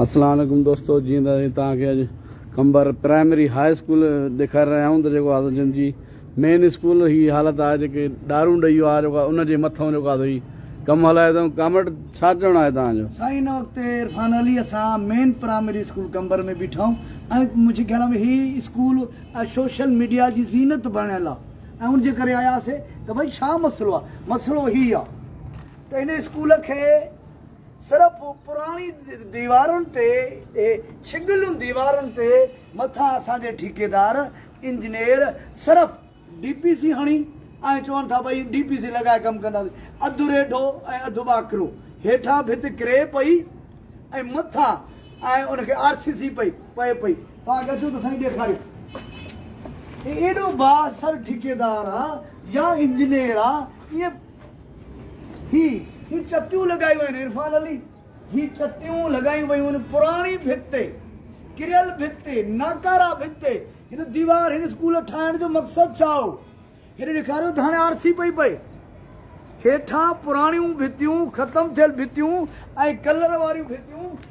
اسلام عليڪم دوستو جيئن ته اسين توهان کي اڄ قمبر پرائمري هاء اسڪول ڏيکاري رهيا آهيون ته جيڪو آ سو جن جي مين اسڪول هي حالت آهي جيڪي ڏارون ڏئي ويو آهي جيڪو آ ان جي مٿئون جيڪو آ سو هي ڪم هلائي اٿئون ڪامريڊ ڇا چوڻ آهي توهان جو. سائين ان وقت عرفان علي اسان مين پرائمري اسڪول قمبر ۾ بيٺا آهيون ۽ منهنجي خيال ۾ هي اسڪول اڄ سوشل ميڊيا جي زينت بڻيل آ ۽ ان جي ڪري آياسي ته ڀئي ڇا مسئلو آ مسئلو هي آ ته ان اسڪول کي صرف پراڻي ديوارن تي ڇڳليون ديوارن تي مٿان اسان جي ٺيڪيدار انجنيئر صرف ڊي پي سي هڻي ۽ چون ٿا ڀئي ڊي پي سي لڳائي ڪم ڪنداسين اڌ ريڍو ۽ اڌ ٻاڪرو هيٺان ڀت ڪري پئي ۽ مٿان ۽ ان کي آر سي سي پئي پئي پئي پاڻ کي اچو ته سائين ڏيکاريو ايڏو بااثر ٺيڪيدار آ يا انجنيئر آ ائين هي هي چتيون لڳايون آهن عرفان علي هي چتيون لڳايون ويون آهن پراڻي ڀت تي ڪريل ڀت تي ناڪارا ڀت تي هن ديوار هن اسڪول ٺاهڻ جو مقصد ڇا هو هن ڏيکاريو ته هاڻي آر سي پئي پئي هيٺان پراڻيون ڀتيون ختم ٿيل ڀتيون ۽ ڪلر واريون ڀتيون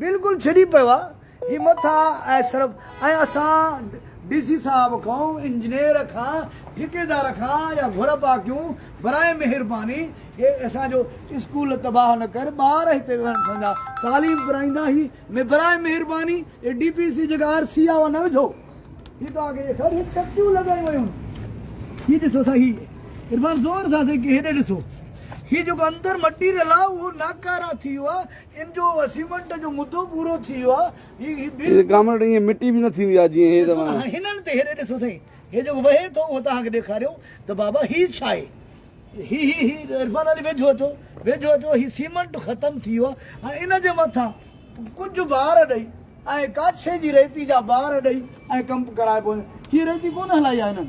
بلڪل ڇڏي پيو آ هي مٿا ۽ سرب ۽ اسان ڊي سي صاحب کان انجنيئر کان ٺيڪيدار کان اها گهربا ڪيون براهي مهرباني هي اسان جو اسڪول تباهه نه ڪر ٻار هتي ويهن اسان جا تعليم پرائيندا هي مي براهي مهرباني هي ڊي پي سي جيڪا آر سي آ اها نه وجهو هي توهان کي ڏيکار هي ٽڪيون لڳايون ويون هي ڏسو سا هي عرفان زور سان سي هي ڏسو هي جيڪو اندر مٽيريل آ اهو ناڪارا ٿي ويو آ ان جو اسيمنٽ جو مدو پورو ٿي ويو آهي هي هي هي ڪامريڊ ايئن مٽي به نه ٿيندي آهي جيئن هي ته هاڻي هنن تي هيڏي ڏسو سائين هي جيڪو وهي ٿو اهو توهان کي ڏيکاريون ته بابا هي ڇا آهي هي هي هي عرفان علي ويجهو اچو ويجهو اچو هي سيمنٽ ختم ٿي ويو آهي ۽ ان جي مٿان ڪجهه بار ڏئي ۽ ڪاڇي جي ريتي جا بار ڏئي ۽ ڪم ڪرائبو هي ريتي ڪونه هلائي آهي هنن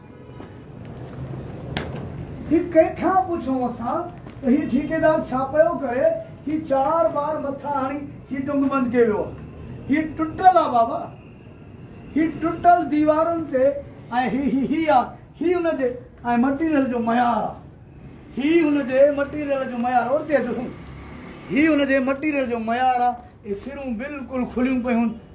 هي ڪنهن کان پڇون اسان ته هي ٺيڪيدار ڇا پيو ڪري هي چار بار مٿا هڻي هي ٽنگ بند ڪيو ويو هي ٽٽل آ بابا هي ٽٽل ديوارن تي ۽ هي هي هي آ هي ان جي ۽ مٽيريل جو معيار آ هي ان جي مٽيريل جو معيار اور تي اچو سائين هي ان جي مٽيريل جو معيار آ اهي سرون بلڪل کليون پيون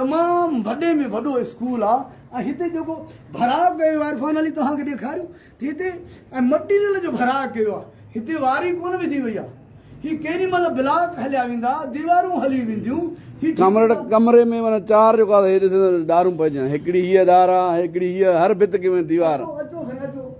تمام وڏي ۾ وڏو اسڪول آ ۽ هتي جيڪو ڀراء ڪيو آ عرفان علي توهان کي ڏيکاريو ته هتي ۽ مٽيريل جو ڀراء ڪيو آ هتي واري ڪونه وڌي وئي آ هي ڪيڏي مهل بلاڪ هليا ويندا ديوارون هلي وينديون هي ٺيڪ آ. ڪمري ۾ معنيٰ چار جيڪو آ هي ڏسي ته ڏارون پئجي ويا آهن هڪڙي هيء ڏار آ هڪڙي هيء هر ڀت ڪي ۾ ديوار آ. اچو اچو سائين اچو.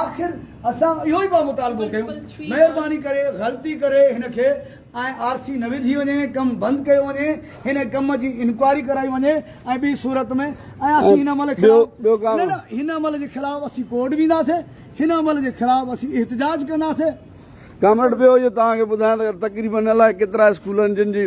آخر اسان اهو ئي پيا مطالبو ڪيون مهرباني ڪري غلطي ڪري هن کي ۽ آر سي نه وڌي وڃي ڪم بند ڪيو وڃي هن ڪم جي انڪوائري ڪرائي وڃي ۽ ٻي صورت ۾ ۽ اسين هن عمل خلاف نه نه هن عمل جي خلاف اسين ڪورٽ وينداسي هن عمل جي خلاف اسين احتجاج ڪنداسي ڪامريڊ ٻيو جو توهان کي ٻڌايان ته تقريبن الائي ڪيترا اسڪولن جن جي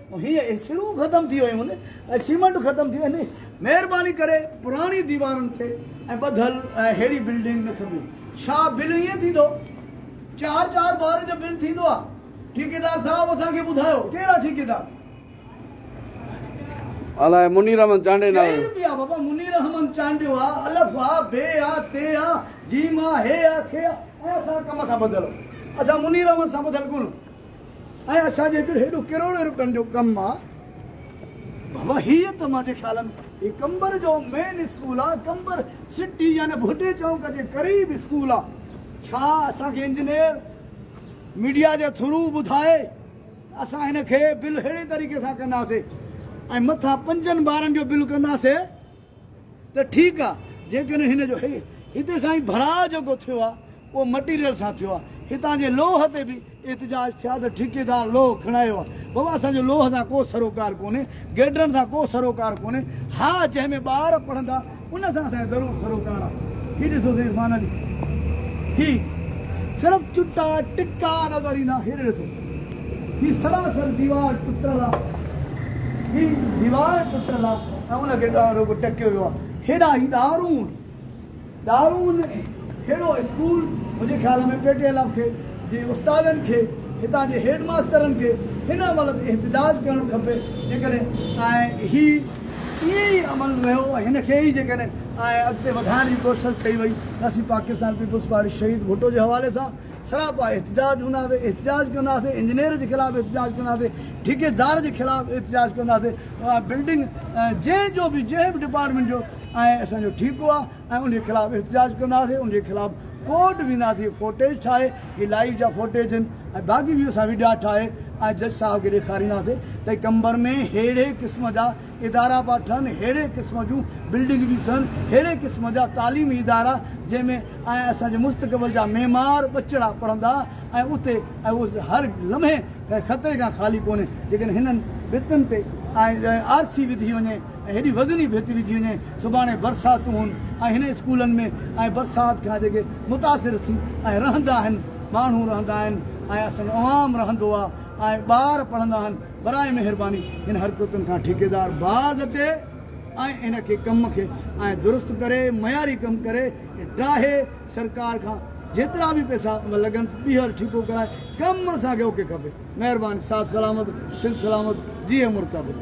هي سرون ختم ٿي ويون آهن ۽ سيمنٽ ختم ٿي ويو آهي مهرباني ڪري پراڻي ديوارن تي ۽ ٻڌل ههڙي بلڊنگ نه کپي ڇا بل ائين ٿيندو چار چار بار جو بل ٿيندو آهي ٺيڪيدار صاحب اسان کي ٻڌايو ڪير آهي ٺيڪيدار الاء منير احمد چانڊي نالو ڪير بي آ بابا منير احمد چانڊيو آ الف آ بي آ تي آ جيم آ هي آ کي آ اسان ڪم سان ٻڌل اسان منير احمد سان ٻڌل ڪون ۽ اسان جي هڪڙي هيڏو ڪروڙين روپين جو ڪم آ بابا هي ته مانجي خيال ۾ هي قمبر جو مين اسڪول آ قمبر سٽي يعني ڀٽي چونڪ جي قريب اسڪول آ ڇا اسان کي انجنيئر ميڊيا جي ٿرو ٻڌائي ته اسان هن کي بل ههڙي طريقي سان ڪنداسي ۽ مٿان پنجن ٻارن جو بل ڪنداسي ته ٺيڪ آ جيڪڏهن هن جو هتي سائين ڀراء جيڪو ٿيو آ اهو مٽيريل سان ٿيو آ هتان جي لوهه تي به احتجاج ٿيا ته ٺيڪيدار لوهه کڻايو آ بابا اسان جو لوهه سان ڪو سروڪار ڪونهي گيڊرن سان ڪو سروڪار ڪونهي ها جنهن ۾ ٻار پڙهندا ان سان اسان کي ضرور سروڪار آ هي ڏسو سائين عرفان علي هي صرف چٽا ٽڪا نظر ايندا هيڏي ڏسو. هي سراسر ديوار ٽٽل آ. هي ديوار ٽٽل آ ۽ ان کي ڏار رڳو ٽڪيو ويو آ. هيڏا هي ڏارون ڏارون هيڙو اسڪول منهنجي خيال ۾ پي ٽي ايل ايف کي جي استادن کي هتان جي هيڊ ماسترن کي هن عمل تي احتجاج ڪرڻ کپي جيڪڏهن ۽ هي ائين ئي عمل رهيو ۽ هن کي ئي جيڪڏهن ۽ اڳتي وڌائڻ جي ڪوشش ڪئي وئي ته اسين پاڪستان پيپلز پارٽي شهيد ڀٽو جي حوالي سان سراپا احتجاج هونداسين احتجاج ڪنداسين انجنيئر جي خلاف احتجاج ڪنداسين ٺيڪيدار جي خلاف احتجاج ڪنداسين بلڊنگ جنهن جو به جنهن به ڊپارٽمينٽ جو ۽ اسان جو ٺيڪو آهي ۽ ان جي خلاف احتجاج ڪنداسين ان جي خلاف ڪورٽ وينداسين هي فوٽيج ٺاهي هي لائيو جا فوٽيج آهن ۽ باقي به اسان وڊيا ٺاهي ۽ جج صاحب کي ڏيکارينداسين ته قمبر ۾ ههڙي قسم جا ادارا پيا ٺهن، ههڙي قسم جون بلڊنگ پيون سهن، ههڙي قسم جا تعليمي ادارا جنهن ۾ ۽ اسان جي مستقبل جا معمار ٻچڙا پڙهندا ۽ اتي ۽ اهو هر لمحي خطري کان خالي ڪونهي جيڪڏهن هنن ڀتن تي آر سي وڌي وڃي ۽ هيڏي وزني ڀت وجهي وڃي سڀاڻي برساتون هون ۽ هن اسڪولن ۾ ۽ برسات کان جيڪي متاثر ٿي ۽ رهندا آهن ماڻهو رهندا آهن ۽ اسان جو عوام رهندو آهي ۽ ٻار پڙهندا آهن. براء مهرباني هن حرڪتن کان ٺيڪيدار باز اچي ۽ ان کي ڪم کي ائين درست ڪري معياري ڪم ڪري ڊاهي سرڪار کان جيترا به پئسا لڳن ٻيهر ٺيڪو ڪرائي ڪم اسان کي اوڪي کپي مهرباني صاحب سلامت سنڌ سلامت جيئي مرتضي.